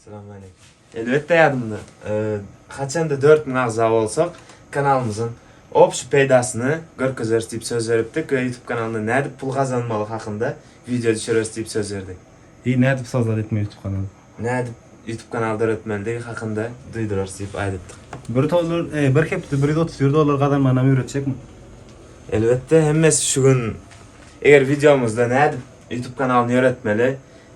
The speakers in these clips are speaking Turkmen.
Salamaleýkum. Elbetde ýadymda. Haçanda dört müň agza bolsak, kanalymyzyň obşi peýdasyny görkezeris diýip söz beripdik we YouTube kanalyndan nädip pul gazanmaly hakynda wideo düşüreris diýip söz berdik. Deý nädip sazlar etmeli YouTube kanaly? Nädip YouTube kanaly döretmelidigi hakynda duýdurarys diýip aýdypdyk. Bir tollar, eý, bir hepde bir ýüz otuz bir dollar gazanmanam öwretjekmi? Elbetde, hemmesi şu gün eger wideomyzda nädip YouTube kanalyny ýöretmeli,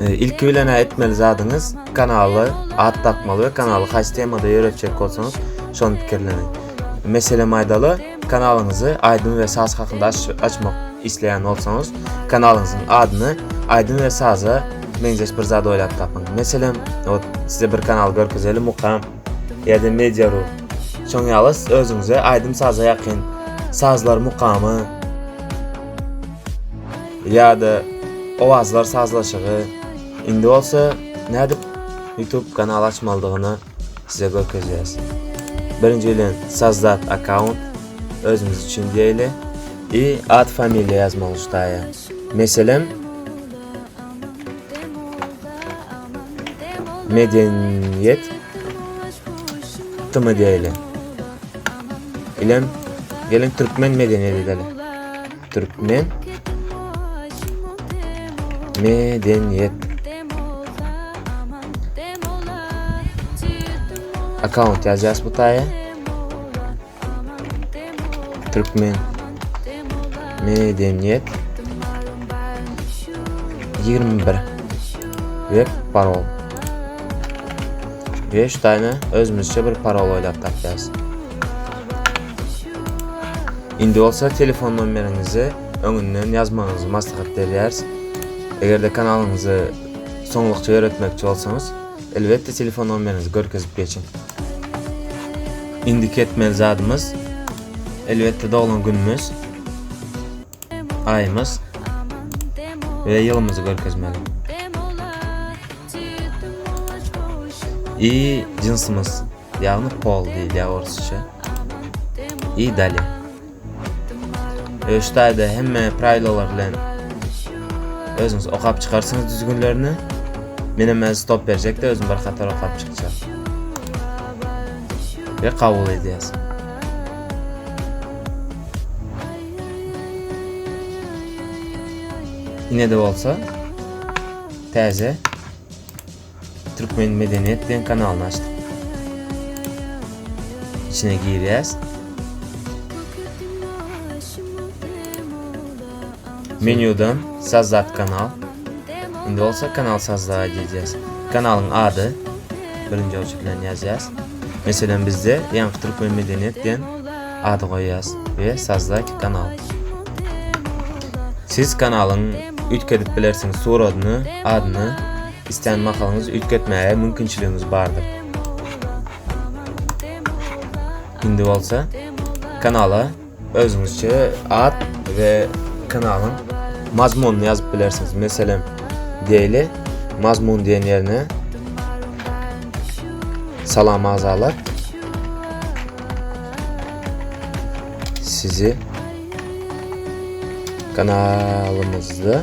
Ee, ilki bilen etmeli zadyňyz kanaly at dakmaly we kanaly haýsy temada ýöretjek bolsaňyz şony pikirleniň. Meselem aýdaly, kanalyňyzy aýdym we saz hakynda açmak isleýän bolsaňyz, kanalyňyzyň adyny aýdym we saza meňzeş bir zat oýlap tapyň. Meselem, ot size bir kanal görkezeli mukam Ýa-da Media.ru. Şoň ýaly özüňize aýdym-saza ýakyn sazlar mukamy ýa-da owazlar sazlaşygy indi bolsa nädip YouTube kanal açmalydygyny size görkezýäs. Birinji bilen sazdat akkaunt özümiz üçin diýeli. I ad familiýa ýazmaly ştaýa. Meselem Medeniýet tmdy ile. Ilem gelin türkmen medeniýet edeli. Türkmen medeniýet account ýazýas bu taýa. Türkmen Medeniýet 21 web parol 5 tane özümüzçe bir parol oýlap tapýarys. Indi bolsa telefon nomeriňizi öňünden ýazmagyňyzy maslahat berýäris. Eger-de kanalyňyzy soňlukça ýöretmekçi bolsaňyz, Elbetde telefon nomeriňizi görkezip geçiň. Indiki etmeli zadymyz elbetde doglan günümüz, aýymyz we ýylymyzy görkezmeli. I jynsymyz. Ýagny pol diýilýä orsça. I dali. Öştaýda hemme praýlolar bilen özüňiz okap çykarsyňyz düzgünlerini. Menem öz stop berjekde özüm bir hatar okap çykjak. Ve kabul edýäs. Ine de bolsa täze Türkmen medeniýet diýen kanalyny açdyk. İçine girýäs. Menýudan Sazat kanal. Indi bolsa kanal sazda edýäs. Kanalyň ady birinji oç bilen ýazýas. Meselem bizde ýaňky türkmen medeniýet diýen ady goýýas we sazda kanal. Siz kanalyň üýtgedip bilersiňiz suratyny, adyny Islän mahalyňyz üýtgetmäge mümkinçiligiňiz bardyr. Indi bolsa kanala özüňizçe at we kanalyň mazmunyny ýazyp bilersiňiz. Meselem, diýeli, mazmun diýen ýerine Salam agzalar. Sizi kanalymyzda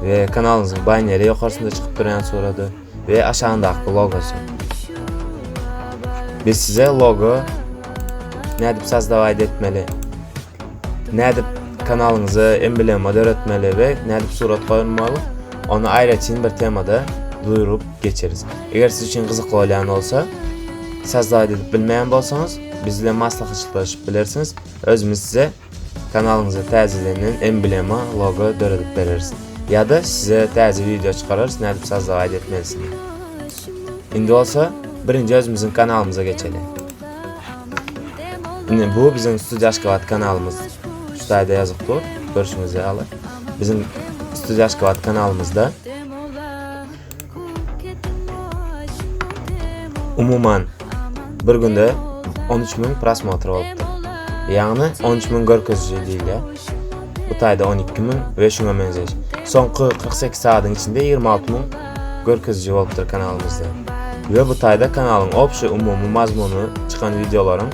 we kanalyňyzyň baneri ýokarsynda çykyp durýan surady we aşagyndaky logosy. Biz size logo nädip sazdawaýda etmeli, nädip kanalyňyza emblema döretmeli we nädip surat goýmaly, ony aýratyn bir temada duýrup geçeris. Eger siz üçin gyzykly bolýan bolsa, sazdawaýda edip bilmeýän bolsaňyz, biz bilen maslahatlaşyp bilersiňiz. Özümiz size Kanalyňyza täzelenen emblema, logo, döredip bereris. Ýa-da size täze wideo çykararys nädip sazda gaýda etmelisini. Indi bolsa birinji özümiziň kanalymyza geçeli. Indi bu biziň Studio Aşgabat kanalymyz. Şu taýda ýazyk dur, görşüňiz ýaly. Biziň Studio Aşgabat kanalymyzda Umuman bir günde 13 müň prosmotr bolupdyr. Ýagny 13 müň görkeziji diýilýär. Bu taýda 12 müň we şuňa meňzeş. Soňky 48 saatyň içinde 26 müň görkeziji bolupdyr kanalymyzda. We bu taýda kanalyň obşi umumy mazmuny çykan wideolaryň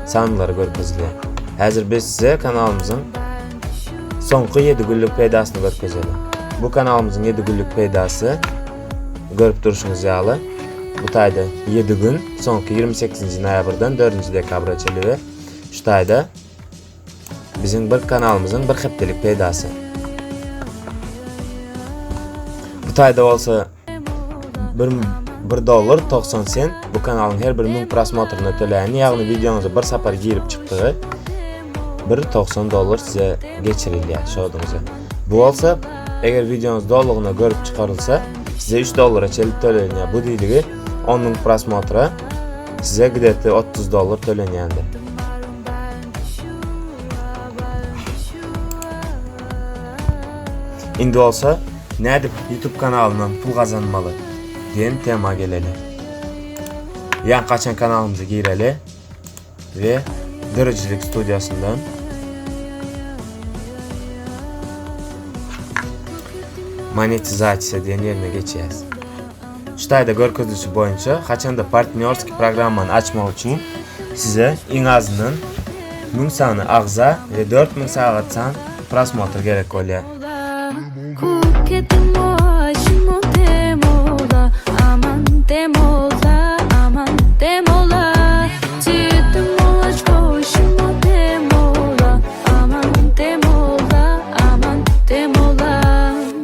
sanlary görkezilýär. Häzir biz size kanalymyzyň Soňky ýedi günlük peýdasyny görkezelim. Bu kanalymyzyň ýedi günlük peýdasy görüp durşuňyz ýaly bu taýda ýedi gün soňky ýigrimi sekizinji noýabrdan dördünji dekabra çenli we şu taýda biziň bir kanalymyzyň bir hepdelik peýdasy. Bu taýda bolsa Bir, bir dollar 90 sent bu kanalyň her bir müň prosmotryna töläni, ýagny wideoňyza bir sapar girip çykdygy 1.90 dollar size geçirilýär şoduňyza. Bu bolsa eger wideoňyz dolugyna görüp çykarylsa, size 3 dollara çelip tölenýär. Bu diýdigi 10 müň prosmotra size gidetde 30 dollar tölenýändir. Indi bolsa nädip YouTube kanalyndan pul gazanmaly diýen tema geleli. Ýa gaçan kanalymyza gireli we dirijilik studiýasyndan monetizasiýa diýen ýerine geçýäs. Ştaýda görkezilişi boýunça haçanda partnýorskiý programmany açmak üçin size iň azyndan müň sany agza we dört müň sagat san prosmotr gerek bolýar.